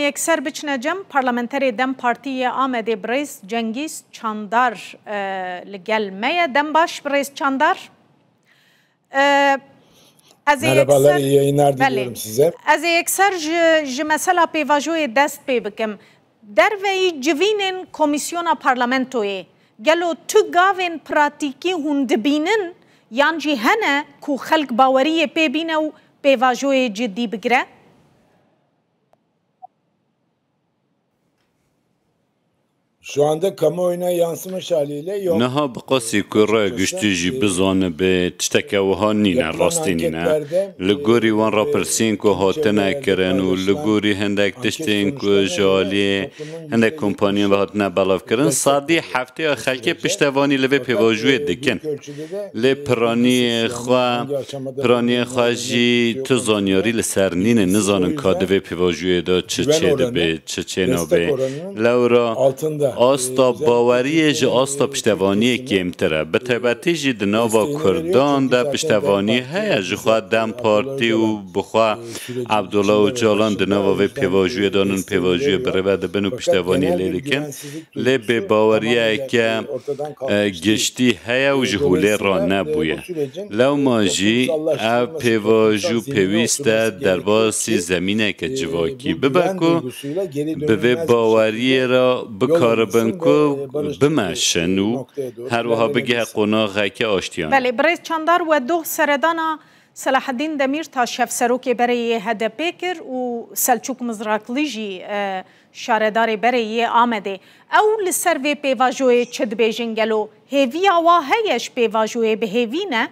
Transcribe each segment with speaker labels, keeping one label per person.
Speaker 1: Yekser biçine cem, Parlamenterê dem Partî yê Amedê birêz Cengîz Çandar li gel me ye. Dem baş birêz Çandar.
Speaker 2: Ez ê yekser
Speaker 1: ji mesela pêvajoyê dest pê bikim. Derveyî civînên komîsyona parlamentoyê gelo tu gavên pratîkî hûn dibînin yan jî hene ku xelk baweriyê pê bîne û pêvajoyê cidî bigire?
Speaker 2: Şu anda kamuoyuna yansımış haliyle yok. Niha bi qasî ku
Speaker 3: re giştî jî bizanibê tişteke wiha nîne, rastî nîne. Li gorî wan rapirsîn ku hatine kirin û li gorî hindek tiştên ku ji aliyê hindek kompaniyan ve hatine belavkirin, sedî heftêya xelkê piştevanî li vê pêvajoyê dikin. Lê piranîyê xwe, piranîyê xwe jî tu zanyarî li ser nîne, nizanin ka di vê pêvajûyê de çi çê dibê, çi çê nabê. Lewra asta bawerîyê ji asta piştevanîyê kêmtir e. Bi taybetî jî di nava kurdan de piştevanî heye. Ji xwe dem partî û bi xwe Abdullah Ocalan di nava vê pêvajûyê de nin pêvajûyê bi rê ve dibin û piştevanî lê dikin. lê bêbaweriyeke giştî heye û ji holê re nebûye. Lewma jî ev pêvaj û pêwîst e derbasî zemîneke civakî bibe ku bi vê baweriyê re bikaribin ku bimeşin û her wiha bigihe qonaxeke aştiyanê. Belê birêz Çandar
Speaker 1: we doh seredana Selahaddîn Demîrtaş Hevserokê berê yê HDP'ê kir û Selçûk Mizrakli jî Şaredarê berê yê Amedê, Ew li ser vê pêvajoyê çi dibêjin gelo hêviya wa heye ji pêvajoyê bi hêvî ne?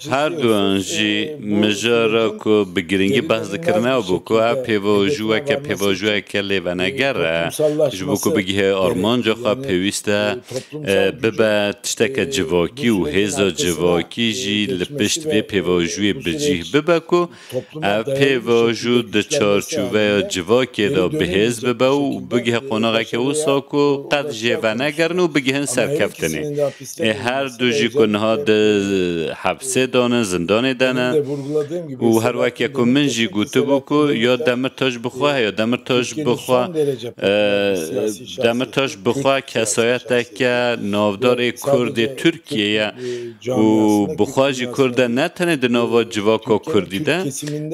Speaker 2: Her duyan jî
Speaker 3: mijara ku bi girîngî behs dikirin ew bû ku ev pêvajo weke pêvajoyeke lêveneger e. Ji bo ku bigihê armanca xwe pêwîst e bibe tişteke civakî û hêza civakî jî li pişt vê pêvajûyê bi cîh bibe ku ev pêvajû di çarçoveya civakê de bihêz bibe û bigihe qonaxeke wisa ku qet jê venegerin û bigihin serkeftinê. Ê her du jî ku niha di hepsê de ne, zindanê de ne û her weke ku min jî gotibû ku ya Demirtaş bixwe ya Demirtaş bixwe, Demitaş bi xwe kesayeteke navdarê Kurdê Tirkiyê ye û bi xwe jî Kurd e ne tenê di nava civaka Kurdî de,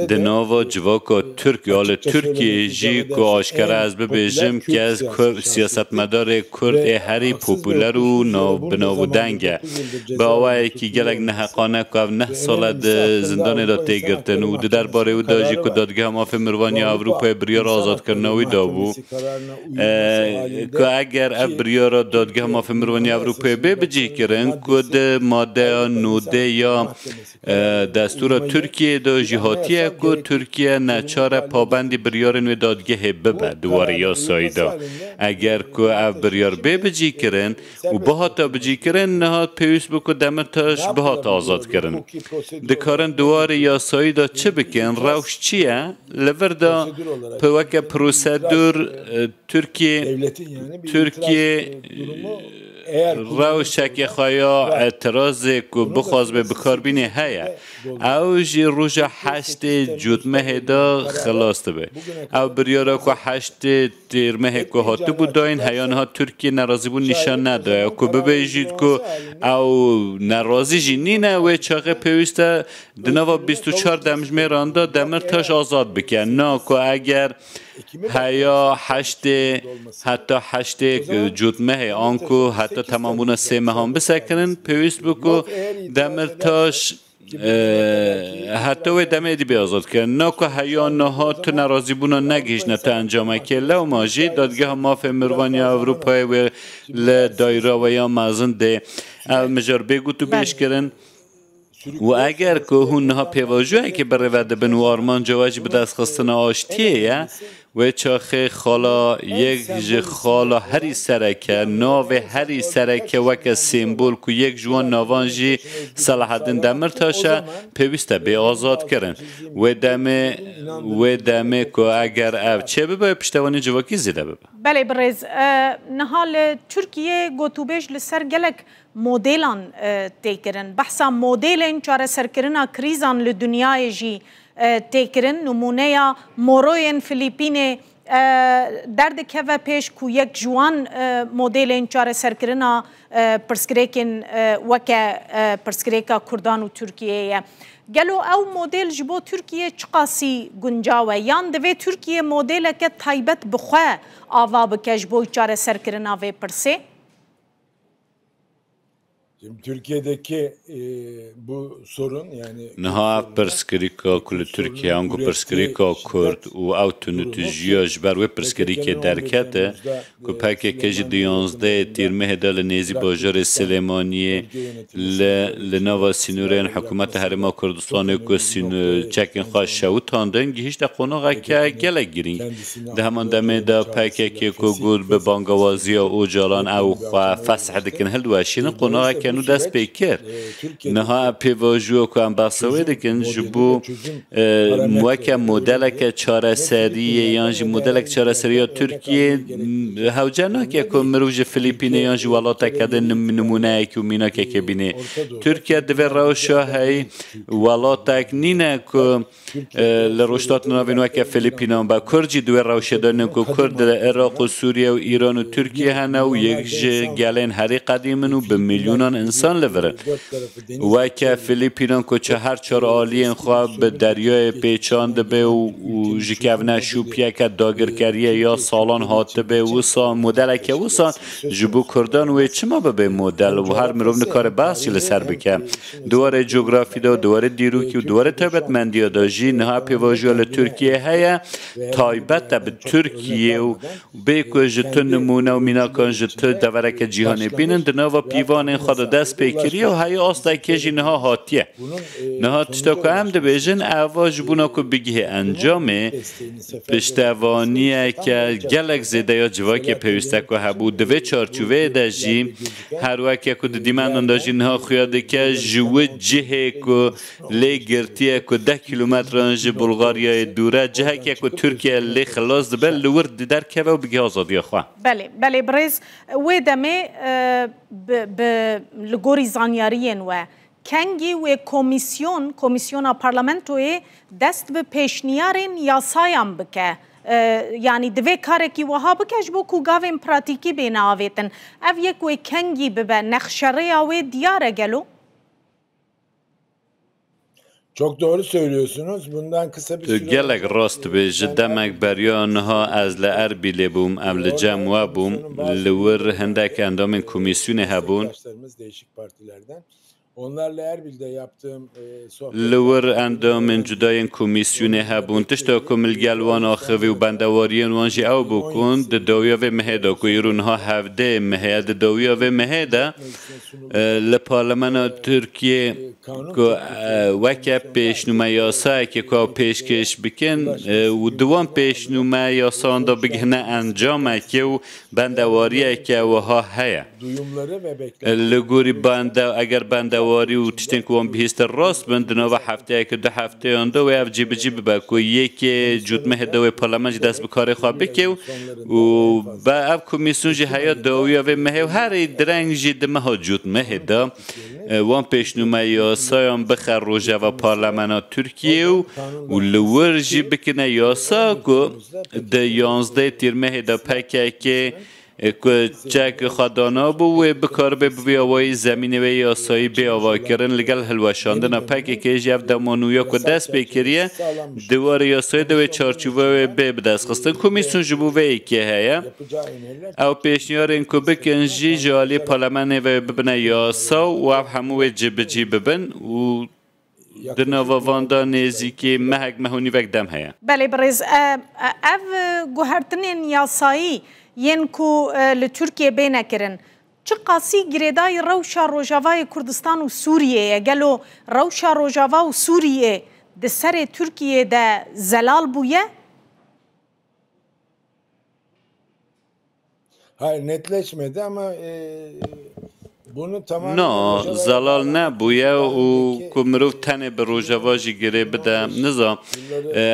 Speaker 3: di nava civaka Tirk ya li Tirkiyeyê jî ku aşkere ez bibêjim ke siyasetmedarê Kurd ê herî popûler û navbinav û deng e. Bi awayekî gelek neheqane ku ev neh sal e di zindanê de tê girtin û di derbarê wî de jî ku Dadgeha Mafê Mirovan ya Ewropayê biryara azadkirina wî dabû, ku eger ev biryara Dadgeha Mafên Mirovan ya Ewropayê bê bicihkirin ku di madeya nûdê ya destûra Tirkiyeyê de jî hatiye ku Tirkiye neçar e pabendî biryarên wê dadgehê bibe di warê yasayî de. Eger ku ev biryar bê bicihkirin, û bihate bicîkirin, niha pêwîst bû ku Demirtaş bihate azadkirin. Dikarin di warê yasayî de çi bikin, rewş çi ye? Li vir de bi weke prosedûr Tirkiye Tirkiye rewşeke xwe ya îtirazê ku bixwazibê bikar bînê heye. Ew jî roja heştê Cotmehê de xilas dibe. Ew biryara ku heştê Têrmehê ku hatibû dayîn heya niha Tirkiyê nerazîbûn nîşan nedaye ku bibêjît ku ew nerazî jî nîne, wê çaxê pêwîst e di nava bîst û çar demjimêran de Demirtaş azad bike. Na ku eger heya heştê heta heştê cotmehê an ku heta temambûna sê mehan bisekinin, pêwîst bû ku Demirtaş Heta wê demê dibê azad bike. Na ku heya niha tu nerazîbûna negihîştine tu encamekê, lewma jî Dadgeha Mafên Mirovan ya Ewropayê wê li daîra we ya mezin dê ev mijar bê gotûbêjkirin û eger ku hûn niha pêvajoyekê birêve dibin û armanca we jî bidestxistina aştiyê ye, Wê çaxê xala yek ji xala herî serek e. Navê herî serek e weke sembol ku yek ji wan navan jî Selahaddin Demirtaş e, pêwîst e bê azadkirin. Wê demê wê demê ku eger ev çêbibe piştevanî civakî zêde bibe.
Speaker 1: Belê birêz, niha li
Speaker 3: Tirkiyê
Speaker 1: gotûbêj li
Speaker 3: ser
Speaker 1: gelek modêlan tê kirin. Behsa modêlên çareserkirina krîzan li dinyayê jî tê kirin. Nimûneya moroyên Filîpînê derdikeve pêş ku yek ji wan modêlên çareserkirina pirsgirêkên weke pirsgirêka Kurdan û Tirkiyeyê ye. Gelo ew modêl ji bo Tirkiyê çiqasî guncaw e? Yan divê Tirkiye modêleke taybet bi xwe ava bike ji bo çareserkirina vê pirsê?
Speaker 2: Şimdi Türkiye'deki e, bu sorun yani Niha ev pirsgirîka
Speaker 3: ku li Tirkiye an ku pirsgirîka Kurd û ew tunûtijiya ji ber wê pirsgirîkê derkete ku PKK jî di yanzdehê Tîrmehê de li nêzî bajarê Silêmaniyê li li nava sînorên hikûmeta Herêma Kurdistanê ku sîn çekên xwe şewitandin gihîşte qonaxeke gelek girîng. Di heman demê de PKK'ê ku got bi bangewaziya Ocalan ew xwe fesh dikin hildiweşînin, qonareke nû dest pê kir. Niha ev pêvajoya ku em behsa wê dikin ji bo weke modeleke çareseriyê yan jî modeleke çareseriya Tirkiyeyê hewce nake ku mirov ji Filîpînê yan ji welateke din nimûneyekî û mînakekê bîne. Tirkiye divê rewşa hey welatek nîne ku Li rojhilatên navîn weke Filîpînan û Bakur jî di wê rewşê de ne ku Kurd li Iraq û Sûriye û Îran û Tirkiye hene û yek ji gelên herî qedîm in û bi milyonan însan li vir in. Weke Filîpînan ku çehar çar aliyên xwe bi deryayê pêçan dibe û ji kevne şûpiyeke dagirkeriyê ya salan hatibe wisa modeleke wisa ji bo Kurdan wê çima bibe model û her mirov nikare behs jî li ser bike. Di warê cografî de, di warê dîrokî û di warê taybetmendiya de jî niha pêvajoya li Tirkiyeyê heye, taybet e bi Tirkiyeyê û bê ku ji tu nimûne û mînakan ji tu devereke cîhanê bînin, di nava pîvanên xwe de dest pê kiriye û heyî astekê jî niha hatiye. Niha tişta ku em dibêjin ev e, ji bona ku bigihê encamê, piştevaniyeke gelek zêde ya civakê pêwîste ku hebû. Di vê çarçoveyê de jî, Her weke ku di dîmenan de jî niha xuya dike ji wi cihê ku lê girtiye ku deh kîlometran ji Bulgaryayê dûr e, ciheke ku Tirkiye lê xilas dibe li wir derkeve û bige azadiya xwe. Belê, belê birêz,
Speaker 1: wê demê bi bi li gorî zanyariyên we Kengî wê komîsyon, komîsyona parlamentoyê dest bi pêşniyarên yasayan bike. Yanî divê karekî wiha bike ji bo ku gavên pratîkî bêne avêtin. Ev yek wê kengî bibe, nexşerêya wê diyar e gelo?
Speaker 2: Çok doğru söylüyorsunuz. Bundan kısa bir Tu süre gelek önce- rast dibê
Speaker 3: ji Ben demek Erbil'de beriya bir niha süre ez li önce- Erbîlê bûm ev li cem we bûm li wir hindek endamên komîsyonê hebûn Meslektaşlarımız değişik
Speaker 2: partilerden. Onlarla Erbil'de yaptığım e, sohbetler- li wir
Speaker 3: endamên cuda yên komîsyonê hebûn tişta ku min li gel wan axivî û bendewariyên wan jî ew bû ku di dawiya vê mehê de ku îro niha hevdeyê meh e di dawiya vê mehê de Li Parlemena Tirkiyê ku weke pêşnûme yasayekê ku ew pêşkêş bikin û di wan pêşnûme yasayan de bigihine encamekê û bendewariyeke wiha heye. Li gorî eger bendewarî û tiştên ku wan bihîstin rast bin, di nava hefteyeke du hefteyan de wê ev cîbicî bibe ku yekê cotmehê di wê parlemen jî dest bi karê xwe bike û û be ev komîsyon jî heya dawiya vê mehê û herî direng jî di meha cotmehê de wan pêşnûme yasayan bixe rojeva parlemena Tirkiyeyê û li wir jî bikine yasa ku di yanzdeh tîrmehê de pkk ku çek xwe danabû wê bikaribe bi vî awayî zemînê wê yasayî bê avakirin li gel hilweşandina pkk jî ev dema nû ya ku dest pê kiriye Di warê yasayê de wê çarçoveya wê bê bidestxistin. Komîsyon ji bo vê yekê heye. Ew pêşniyarên ku bikin jî ji aliyê parlemenê ve bibine yasa û ev hemû wê cibicî bibin û di nava van de nêzîkî mehek meh û nîvek dem heye. Belê birêz,
Speaker 1: ev guhertinên yasayî yên ku li Tirkiyê bêne kirin, Çiqasî girêdayî rewşa Rojavayê Kurdistan û Sûriyê ye, gelo rewşa Rojava û Sûriyê di serê Tirkiyê de zelal bûye?
Speaker 2: Na,
Speaker 3: zelal nebûye û Ku mirov tenê bi Rojava jî girê bide, niza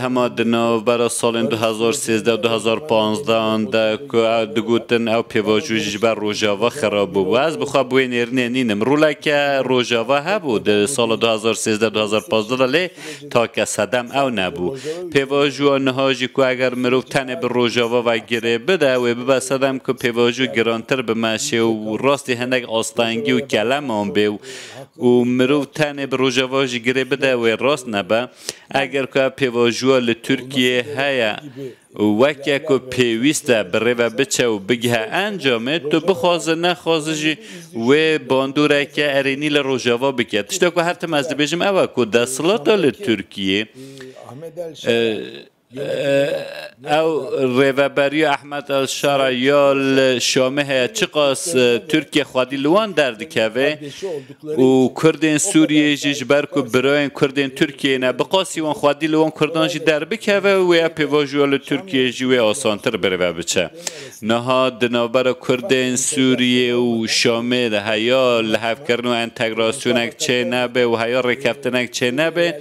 Speaker 3: hema di navbera salên du hezar û sêzdeh û du hezar û panzdeh an de ku digotin ew pêvajo jî ji ber Rojava xirab bû bû. Ez bi xwe bi wê nêrinê nînim. Roleke Rojava hebû di sala du hezar û sêzdeh û du hezar û panzdeh de lê take sedem ew nebû. Pêvajoya niha jî ku eger mirov tenê bi Rojava ve girê bide, wê bibe sedem ku pêvajo girantir bi meşê û rastî hinek astengî û keleman bê û û mirov tenê bi Rojava jî girê bide wê rast nebe. Eger ku ev pêvajoya li Tirkiyeyê heye û weke ku pêwîst e bi rê ve biçe û bigihe encamê, tu bixwaze nexwaze jî wê bandoreke erênî li Rojava bike. Tişta ku her tim ez dibêjim ew e ku desthilata li Tirkiyeyê, Ew rêveberiya Ehmed Elşara ya li Şamê heye çiqas Tirkiye xwedî li wan derdikeve û Kurdên Sûriyeyê jî ji ber ku birayên Kurdên Tirkiyeyê ne bi qasî wan xwedî li wan Kurdan jî derbikeve wê ya pêvajoya li Tirkiyeyê jî wê asantir bi rêve biçe. Niha di navbera Kurdên Sûriyeyê û Şamê de heya lihevkirin û entegrasyonek çê nebe û heya rêkeftinek çê nebe,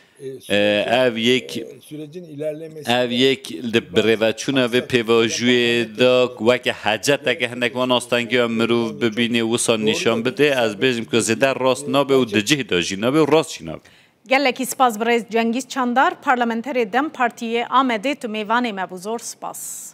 Speaker 3: Ev yek ev yek li birêveçûna vê pêvajûyê de weke heceteke hinek van astengiya mirov bibînê wisa nîşan bidê ez bêjim ku zêde rast nabe û di cih de jî nabe û rast jî nabe. Gelekî spas
Speaker 1: birêz Cengîz Çandar, parlamenterê dem Partî yê Amedê tu mêvanê me bû zor spas.